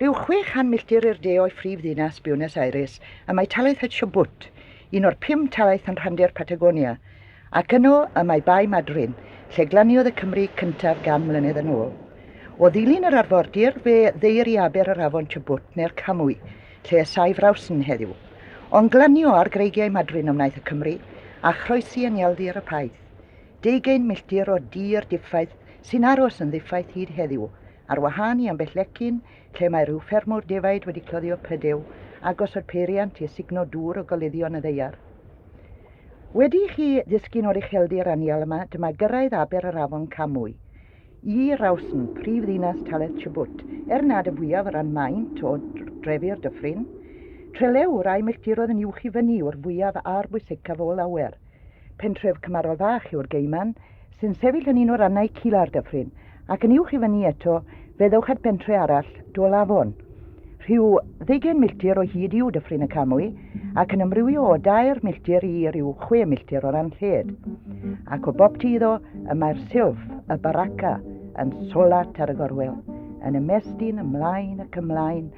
Rhyw chwe chan milltir i'r de o'i phrif ddinas, Buenos Aires, y mae talaith y Chubut, un o'r pum talaith yn rhandir Patagonia, ac yno y mae Bae Madryn, lle glaniodd y Cymry cyntaf gan mlynedd yn ôl. O ddilyn yr arfordir, fe ddeir i aber yr afon Chubut, neu'r Camwy, lle y saif Rawson heddiw. Ond glanio ar greigiau Madryn y wnaeth y Cymry, a chroesi yn ieldir y Paith. Deugain milltir o dir diffaith sy'n aros yn ddiffaith hyd heddiw, Ar wahân i ambell lecyn, lle mae rhyw ffermwr defaid wedi cloddio prydew, a gosod peiriant i esugno dŵr o goluddion y ddaear. Wedi i chi ddisgyn o'r ucheldir anial yma, dyma gyrraedd aber yr afon Kamui. Y Rawsn, prif ddinas talaith Chubut, er nad y fwyaf o ran maint o drefy'r dyffryn. Trelew'r a'i milltiroedd yn uwch i fyny yw'r fwyaf a'r bwysicaf o lawer. Pentref Camarol Fach yw'r Geyman, sy'n sefyll yn un o rannau cula'r dyffryn, ac yn uwch i fyny eto fe ddewch at bentre arall, Dôl Afon. Rhyw ddeugain milltir o hyd yw Dyffryn y Camwy, ac yn ymrywio o dair milltir i ryw chwe milltir o ran lled. Ac o boptu iddo, y mae'r silff, y baraka, yn solat ar y gorwel, yn ymestyn ymlaen ac ymlaen,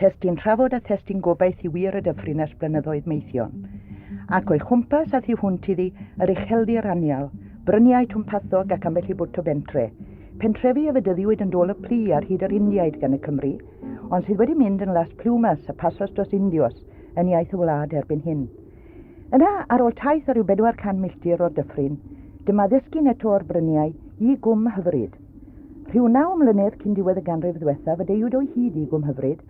Testun trafod a thestun gobaith i wir y dyffryn ers blynyddoedd meithion. Ac o'i chwmpas a thu hwnt iddi, yr ucheldir anial, bryniau twmpathog ac ambell i bwt o bentre. Pentrefi a fedyddiwyd yn dôl y plu ar hyd yr Indiaid gan y Cymry, ond sydd wedi mynd yn Las Plumas a Pasos dos Indios yn iaith y wlad erbyn hyn. Yna, ar ôl taith o ryw bedwar can milltir o'r dyffryn, dyma ddisgyn eto o'r bryniau i gwm hyfryd. Rhyw naw mlynedd cyn diwedd y ganrif ddiwethaf y deuwyd o'i hyd i Gwm Hyfryd,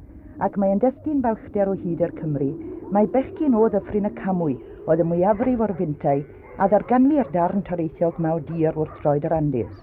ac mae e'n destun balchder o hyd i'r Cymry, mai bechgyn o Ddyffryn y Camwy oedd y mwyafrif o'r fintai a ddarganfu i'r darn toreithiol gwnaw dir wrth droed yr Andes.